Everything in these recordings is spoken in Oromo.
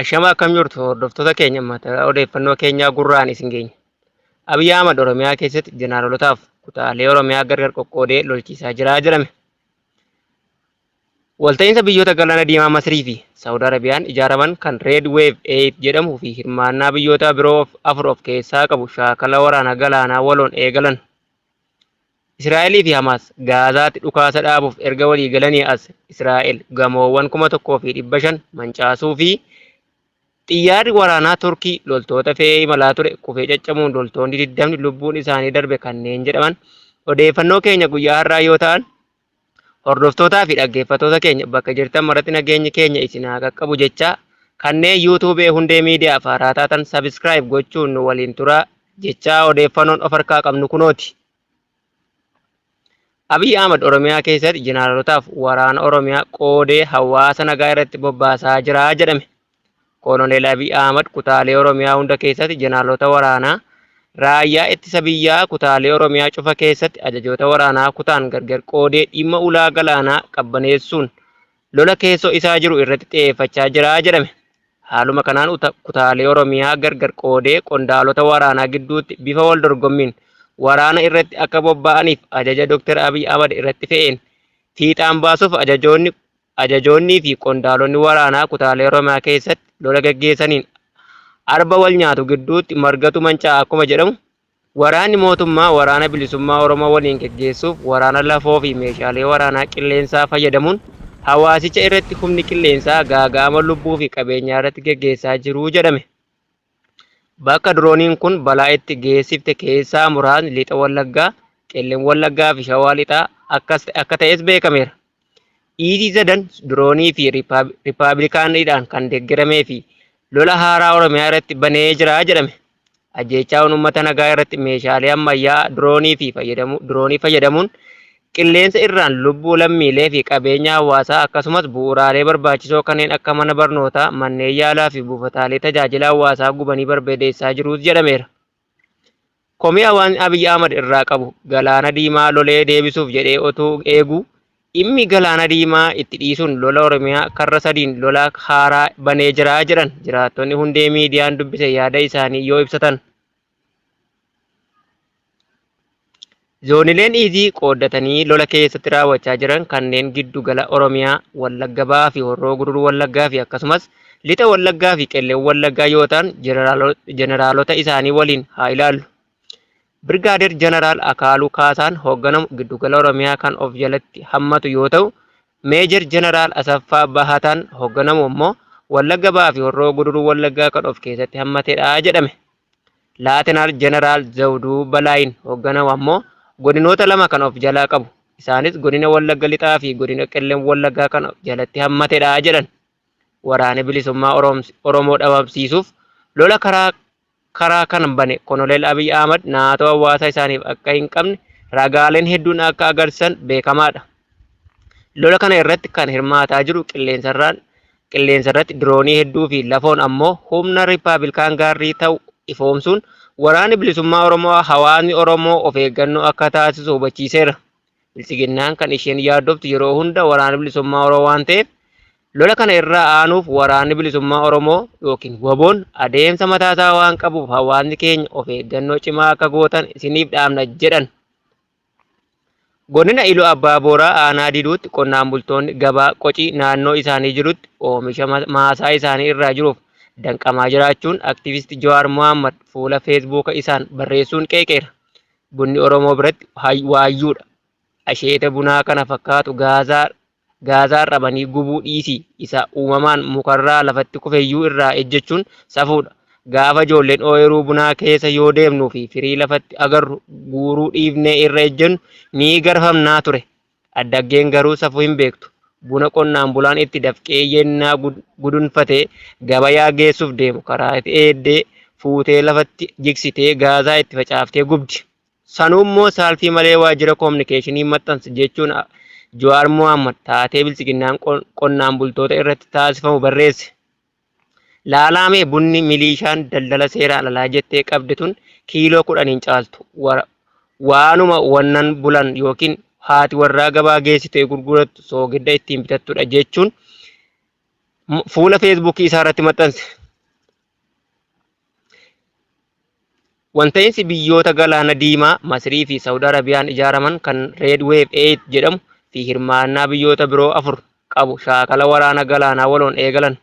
Ashama akkam jirtu hordoftoota keenya mataa odeeffannoo keenyaa gurraan isin geenya. Abiyyi Ahmad Oromiyaa keessatti jenaarolotaaf kutaalee Oromiyaa gargar qoqqoodee lolchiisaa jira jedhame. Walta'iinsa biyyoota Galaana Diimaa Masirii fi Saawud Arabiyaan ijaaraman kan Red Wave 8 jedhamuu fi hirmaannaa biyyoota biroo of afur of keessaa qabu shaakala waraana galaanaa waloon eegalan. Israa'elii fi Hamaas Gaazaatti dhukaasa dhaabuuf erga walii galanii as Israa'el gamoowwan 1,500 mancaasuu fi xiyyaarri waraanaa Turkii loltoota fe'ee imalaa ture kufee caccabuun loltoonni 20 lubbuun isaanii darbe kanneen jedhaman odeeffannoo keenya guyyaa har'aa yoo ta'an Hordoftootaa fi dhaggeeffattoota keenya bakka jirtan maratti nageenyi keenya isin haa qaqqabu jechaa kanneen YouTube hundee miidiyaa faaraa taatan subscribe gochuun nu waliin turaa jechaa odeeffannoon of harkaa qabnu kunooti. Abiy Ahmad Oromiyaa keessatti jeneraalotaaf waraana Oromiyaa qoodee hawaasa nagaa irratti bobbaasaa jira jedhame. Koloneel Abiy Ahmad kutaalee Oromiyaa hunda keessatti Jeneraalota waraanaa Raayyaa Ittisa Biyyaa kutaalee Oromiyaa cufa keessatti ajajoota waraanaa kutaan gargar qoodee dhimma ulaa galaanaa qabbaneessuun lola keessoo isaa jiru irratti xiyeeffachaa jira jedhame. Haaluma kanaan uta kutaalee Oromiyaa gargar qoodee qondaalota waraanaa gidduutti bifa wal dorgommiin waraana irratti akka bobbaa'aniif ajaja Dr. Abiy Ahmad irratti fe'een fiixaan baasuuf ajajoonni ajajoonnii fi qondaalonni waraanaa kutaalee Oromiyaa keessatti lola gaggeessaniin arba wal nyaatu gidduutti margatu mancaa'a akkuma jedhamu, waraanni mootummaa Waraana Bilisummaa Oromoo waliin gaggeessuuf waraana lafoo fi meeshaalee waraanaa qilleensaa fayyadamuun hawaasicha irratti humni qilleensaa gaaga'ama lubbuu fi qabeenyaa irratti gaggeessaa jiru jedhame. Bakka dirooniin kun balaa itti geessifte keessaa muraasni Lixa Wallaggaa, Qellem Wallaggaa fi Shawaa Lixaa akkas akka ta'es beekameera. Dhiitii sadan diroonii fi Riippaabilikaanidhaan kan deeggaramee fi lola haaraa Oromiyaa irratti banee jira jedhame. Ajjeechaawwan uummata nagaa irratti meeshaalee ammayyaa diroonii fi fayyadamu, diroonii fayyadamuun Qilleensa irraan lubbuu lammiilee fi qabeenya hawaasaa akkasumas bu'uuraalee barbaachisoo kanneen akka mana barnootaa, manneen yaalaa fi buufataalee tajaajila hawaasaa gubanii barbadeessaa jiruus jedhameera. Komii hawaasni Abiy Ahmad irraa qabu Galaana Diimaa lolee deebisuuf jedhee otuu eeguu dhimmi Galaana Diimaa itti dhiisuun lola Oromiyaa karra sadiin lola haaraa banee jira jedhan jiraattonni hundee miidiyaan dubbise yaada isaanii yoo ibsatan. Zoonileen Iizii qooddatanii lola keessatti raawwachaa jiran kanneen giddu gala Oromiyaa, Wallagga Bahaa fi Horroo Guduruu Wallaggaa fi akkasumas Lixa Wallaggaa fi Qellem Wallaggaa yoo ta'an jeneraalota isaanii waliin haa ilaallu. Birgaadeer Jeneraal Akaaluu Kaasaan hoogganamu giddu gala Oromiyaa kan of jalatti hammatu yoo ta'u, Meejer Jeneraal Asaffaa Bahataan hogganamu ammoo Wallagga Bahaa fi Horroo Guduruu Wallaggaa kan of keessatti hammatedha jedhame. Laatenaal Jeneraal Zawduu Balaayiin hogganamu ammoo godinoota lama kan of jalaa qabu. Isaanis godina Wallagga Lixaa fi godina Qellem Wallaggaa kan of jalatti hammatedha jedhan. Waraani Bilisummaa Oromoo dhabamsiisuuf lola karaa karaa kan bane Konolel Abiy Ahmad naatoo hawaasa isaaniif akka hin qabne ragaaleen hedduun akka agarsiisan beekamaadha. Lola kana irratti kan hirmaataa jiru qilleensarraan qilleensa irratti diroonii hedduu fi lafoon ammoo humna Rippaabilkaan Gaarrii ta'u ifoomsuun waraanni bilisummaa Oromoo hawaasni Oromoo of eeggannoo akka taasisu hubachiiseera. Biltsiginnaan kan isheen yaaddoftu yeroo hunda waraana bilisummaa Oromoo waan ta'eef lola kana irraa aanuuf waraanni bilisummaa Oromoo yookiin waboon adeemsa mataa isaa waan qabuuf hawaasni keenya of eeggannoo cimaa akka gootan isiniif dhaamna jedhan. Godina Iluu Abbaa Booraa aanaa Diiduutti qonnaan bultoonni gabaa qocii naannoo isaanii jirutti oomisha maasaa isaanii irraa jiruuf danqamaa jiraachuun aktivisti Jawaar Mohaammed fuula feesbuuka isaan barreessuun qeeqeera. Bunni Oromoo biratti hay- waayyuudha. Asheeta bunaa kana fakkaatu gaazaa gaazaa rabanii gubuu dhiisii isa uumamaan mukarraa lafatti kufeyyuu irraa ejjechuun safuudha. Gaafa ijoolleen ooyiruu bunaa keessa yoo deemnuu fi firii lafatti agarru guuruu dhiifnee irra ejjennu ni garfamnaa ture. Addaggeen garuu safuu hin beektu. Buna qonnaan bulaan itti dafqee yennaa gudunfate gabayaa geessuuf deemu karaa eeddee fuutee lafatti jigsitee gaazaa itti facaaftee gubdi. Sanuummoo saalfii malee waajjira kominikeeshinii maxxansa jechuun Jawaar Mohaammad taatee Biltsiginnaan qonnaan bultoota irratti taasifamu barreesse. Laalaa mee bunni miliishaan daldala seeraan alaa jettee qabde tun kiiloo kudhan hin caaltu. Wa- Waanuma wannan bulan yookiin haati warraa gabaa geessitee gurgurattu soogidda ittiin bitattudha jechuun m- fuula feesbuukii isaa irratti maxxanse. Walta'iinsi biyyoota galaana diimaa Masirii fi Saawud Arabiyaan ijaaraman kan Red Wave 8 jedhamu fi hirmaannaa biyyoota biroo afur qabu shaakala waraana galaanaa waloon eegalan.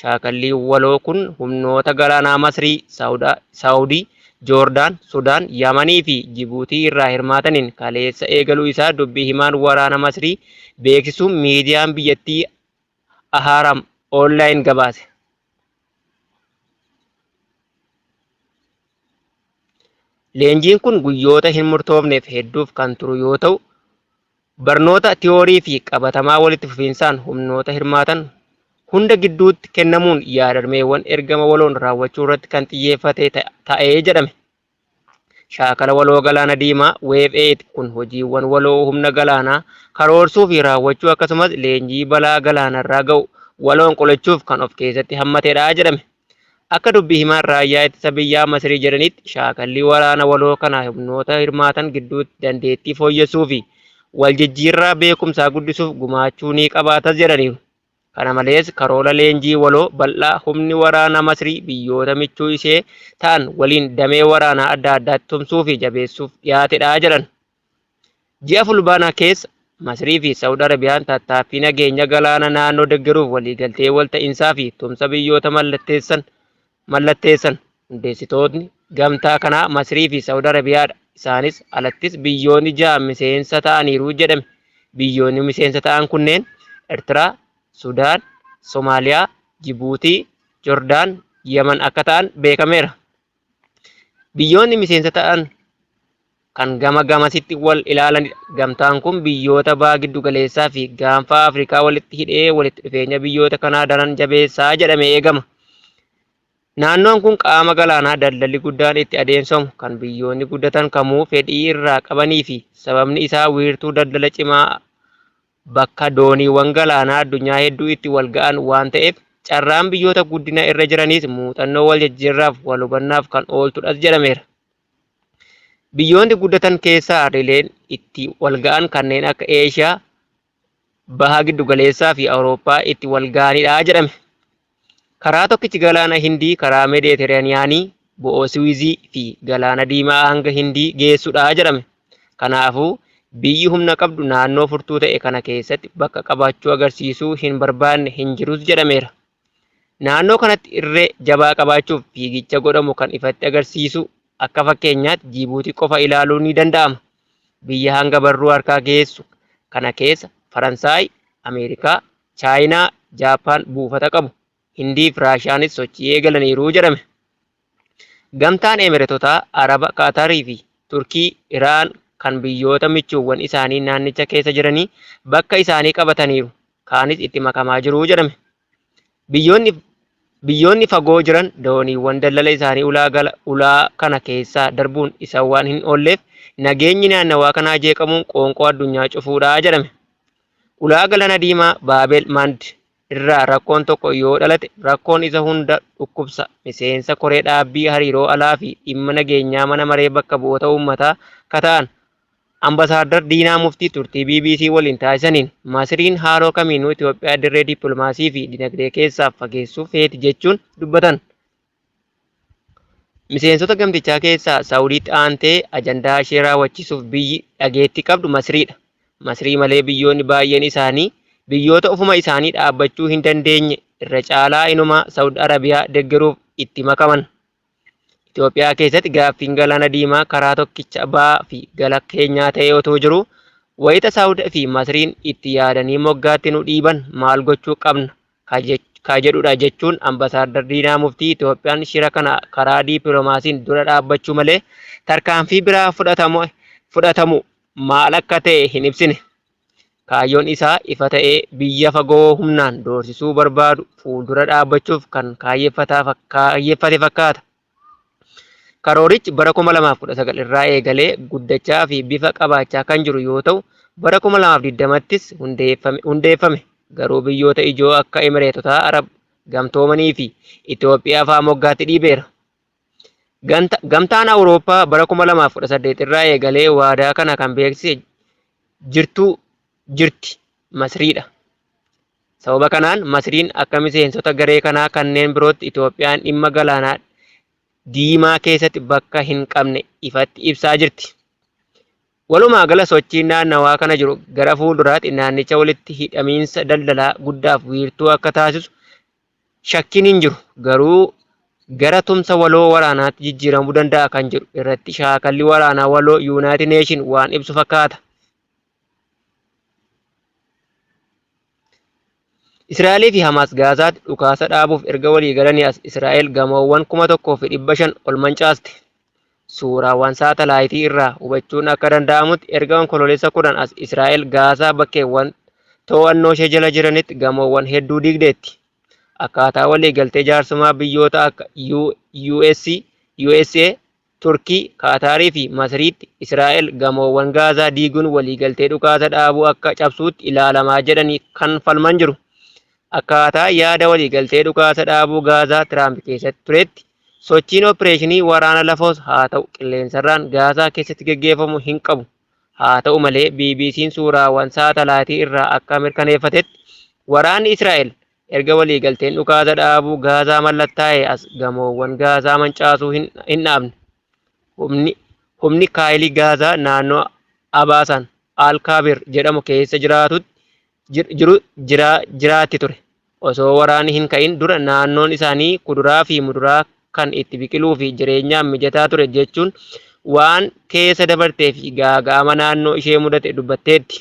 Shaakalli waloo kun humnoota galaanaa Masirii, Saawudii, Joordaan, Sudaan, Yamanii fi Jibuutii irraa hirmaataniin kaleessa eegaluu isaa dubbii himaan waraana Masirii beeksisuun miidiyaan biyyattii Ahaaram Online gabaase. Leenjiin kun guyyoota hin murtoofneef hedduuf kan turu yoo ta'u, barnoota tiyoorii fi qabatamaa walitti fufiinsaan humnoota hirmaatan hunda gidduutti kennamuun yaadrimeewwan ergama waloon raawwachuu irratti kan xiyyeeffate ta'ee jedhame. Shaakala waloo galaana diimaa, Wave 8, kun hojiiwwan waloo humna galaanaa karoorsuu fi raawwachuu akkasumas leenjii balaa galaanarraa ga'u waloon qolachuuf kan of keessatti hammatedha jedhame. Akka dubbi himaan raayyaa ittisa biyyaa Masirii jedhanitti shaakalli waraana waloo kana humnoota hirmaatan gidduutti dandeettii fooyyessuu fi waljijjiirraa beekumsaa guddisuuf gumaachuu ni qabaatas jedhaniiru. Kana malees karoora leenjii waloo bal'aa humni waraana Masrii biyyoota michuu ishee ta'an waliin damee waraanaa adda addaatti tumsuu fi jabeessuuf dhiyaatedha jedhan. Ji'a Fulbaanaa keessa Masrii fi Sa'ud Arabiyaan tattaaffii nageenya galaana naannoo deggeruuf waliigaltee walta'iinsaa fi tumsa biyyoota mallatteessan mallatteessan. Hundeessitootni gamtaa kanaa Masrii fi Saawud Arabiyaadha. Isaanis alattis biyyoonni ja'a miseensa ta'aniiru jedhame. Biyyoonni miseensa ta'an kunneen Ertiraa, Sudaan, Somaaliyaa, Jibuutii, Jordaan, Yaman akka ta'an beekameera. Biyyoonni miseensa ta'an kan gama gamasitti wal ilaalanidha. Gamtaan kun biyyoota Baha Giddugaleessaa fi Gaanfa Afrikaa walitti hidhee walitti dhufeenya biyyoota kanaa daran jabeessa jedhamee eegama. Naannoon kun qaama galaanaa daldalli guddaan itti adeemsifamu, kan biyyoonni guddatan kamuu fedhii irraa qabanii fi sababni isaa wiirtuu daldala cimaa bakka dooniiwwan galaanaa addunyaa hedduu itti wal ga'an waan ta'eef carraan biyyoota guddina irra jiraniis muuxannoo wal jijjiirraaf wal hubannaaf kan ooltudhas jedhameera. Biyyoonni guddatan keessaa harrileen itti walga'an kanneen akka Eeshiyaa, Baha Giddugaleessaa fi Awurooppaa itti walga'anidha jedhame. Karaa tokkichi galaana Hindii karaa Meediteraaniyaanii, bo'oo Siwiizii fi galaana Diimaa hanga Hindii geessudha jedhame. Kanaafuu biyyi humna qabdu naannoo furtuu ta'e kana keessatti bakka qabaachuu agarsiisuu hin barbaanne hin jirus jedhameera. Naannoo kanatti irree jabaa qabaachuuf fiigicha godhamu kan ifatti agarsiisu akka fakkeenyaatti Jiibuutii qofa ilaaluun ni danda'ama. Biyya hanga barruu harkaa geessu kana keessa Faransaay, Ameerikaa, Chaayinaa, Jaappaan buufata qabu. Hindii fi Raashiyaanis sochii eegalaniiru jedhame. Gamtaan Emiretotaa, Araba, Qaatarii fi Turkii, Iraan kan biyyoota michuuwwan isaanii naannicha keessa jiranii bakka isaanii qabataniiru. kaanis itti makamaa jiru jedhame. Biyyoonni biyyoonni fagoo jiran dooniiwwan daldala isaanii ulaa gala ulaa kana keessaa darbuun isa waan hin oolleef nageenyi naannawaa kanaa jeeqamuun qoonqoo addunyaa cufuudha jedhame. Ulaa galana diimaa Baabel Mand irraa rakkoon tokko yoo dhalate rakkoon isa hunda dhukkubsa miseensa koree dhaabbii hariiroo alaa fi dhimma nageenyaa mana maree bakka bu'oota uummataa kata'an Ambasaadar Diinaa Muftii turtii bbc waliin taasisaniin, Masriin haaloo kamiinuu Itoophiyaa dirree dippilmaasii fi dinagdee keessaa fageessuu feeti jechuun dubbatan. Miseensota gamtichaa keessaa Saawudiitti aantee ajandaa ishee raawwachiisuuf biyyi dhageettii qabdu Masriidha. Masrii malee biyyoonni baay'een isaanii biyyoota ofuma isaanii dhaabbachuu hin dandeenye irra caalaa inumaa Saawud Arabiyaa deggeruuf itti makaman. Itoophiyaa keessatti gaaffiin galaana diimaa karaa tokkicha ba'aa fi gala keenyaa ta'ee otoo jiru wayita Saawud fi Masriin itti yaadanii moggaatti nu dhiiban maal gochuu qabna ka jedhudha jechuun ambasaadar Diinaa Muftii Itoophiyaan shira kana karaa diipilomaasiin dura dhaabbachuu malee tarkaanfii biraa fudhatamu maal akka ta'e hin ibsine. Kaayyoon isaa ifa ta'ee biyya fagoo humnaan doorsisuu barbaadu fuuldura dhaabbachuuf kan kaayyeffate fakkaata. Karoorichi bara 2019 irraa eegalee guddachaa fi bifa qabaachaa kan jiru yoo ta'u, bara 2020ttis hundeeffame. Garuu biyyoota ijoo akka Emireetotaa Arab Gamtoomanii fi Itoophiyaa fa'aa moggaatti dhiibeera. Ganta- Gamtaan Awurooppaa bara 2018 irraa eegalee waadaa kana kan beeksise jirtuu jirti Masriidha. Sababa kanaan Masriin akka miseensota garee kanaa kanneen birootti Itoophiyaan dhimma galaanaa diimaa keessatti bakka hin qabne ifatti ibsaa jirti. Walumaa gala sochiin naannawaa kana jiru gara fuulduraatti naannicha walitti hidhamiinsa daldalaa guddaaf wiirtuu akka taasisu shakkiin hin jiru. Garuu gara tumsa waloo waraanaatti jijjiiramuu danda'a kan jedhu irratti shaakalli waraanaa waloo Yuunaayitid Neeshin waan ibsu fakkaata. Israa'elii fi Hamaas Gaazaatti dhukaasa dhaabuuf erga walii galanii as Israa'el gamoowwan kuma tokkoo fi dhibba shan ol mancaaste. Suuraawwan saatalaayitii irraa hubachuun akka danda'amutti erga Onkoloolessa 10 as Israa'el Gaazaa bakkeewwan to'annoo ishee jala jiranitti gamoowwan hedduu diigdeetti. Akkaataa waliigaltee jaarsumaa biyyoota akka US, USA, Turkii, Kaataarii fi Masriitti Israa'el gamoowwan Gaazaa diiguun waliigaltee dhukaasa dhaabuu akka cabsuutti ilaalamaa jedhanii kan falman jiru. Akkaataa yaada waliigaltee dhukaasa dhaabuu Gaazaa Tiraamp keessatti tureetti Sochiin oppireeshinii waraana lafoos haa ta'u qilleensarraan Gaazaa keessatti geggeeffamu hin qabu. Haata'u malee, BBC'n suuraawwan saatalaayitii irraa akka mirkaneeffatetti, waraanni Israa'el erga waliigalteen dhukaasa dhaabuu Gaazaa mallattaa'ee as gamoowwan Gaazaa mancaasuu hin hin dhaabne. Humni humni Kaayilii Gaazaa naannoo Abaasaan Al Kaabir jedhamu keessa jiraatutti jir- jiru jira, jiraatti ture. Osoo waraanni hin ka'in dura naannoon isaanii kuduraa fi muduraa kan itti biqiluu fi jireenyaaf mijataa ture jechuun waan keessa dabartee fi gaaga'ama naannoo ishee mudate dubbatteetti.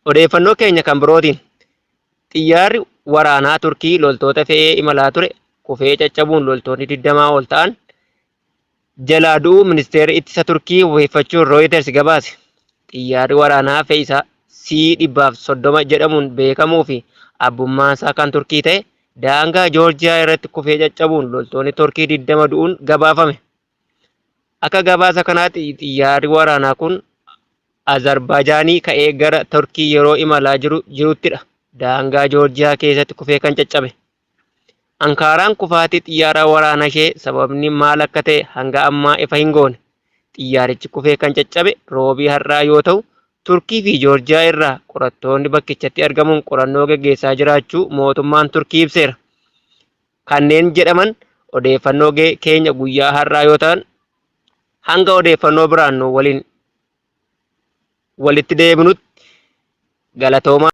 Odeeffannoo keenya kan birootiin xiyyaarri waraanaa Turkii loltoota fe'ee imalaa ture kufee caccabuun loltoonni 20 ol ta'an jalaa du'uu ministeerri ittisa Turkii wabeeffachuun Rooyiters gabaase. Xiyyaarri waraanaa fe'isaa C-130 jedhamuun beekamuu fi abbummaansaa kan Turkii ta'e daangaa Joorjiyaa irratti kufee caccabuun loltoonni Turkii 20 du'uun gabaafame. Akka gabaasa kanaatti xiyyaarri waraanaa kun Azarbaajaanii ka'ee gara Turkii yeroo imalaa jiru jiruttidha daangaa Joorjiyaa keessatti kufee kan caccabe. Ankaaraan kufaatii xiyyaaraa waraanashee sababni maal akka ta'e hanga ammaa ifa hin goone. Xiyyaarichi kufee kan caccabe Roobii har'aa yoo ta'u, Turkii fi Joorjiyaa irraa qorattoonni bakkichatti argamuun qorannoo geggeessaa jiraachuu mootummaan Turkii ibseera. Kanneen jedhaman odeeffannoo keenya guyyaa har'aa yoo ta'an, hanga odeeffannoo biraan nu waliin walitti deebinutti galatoomaa.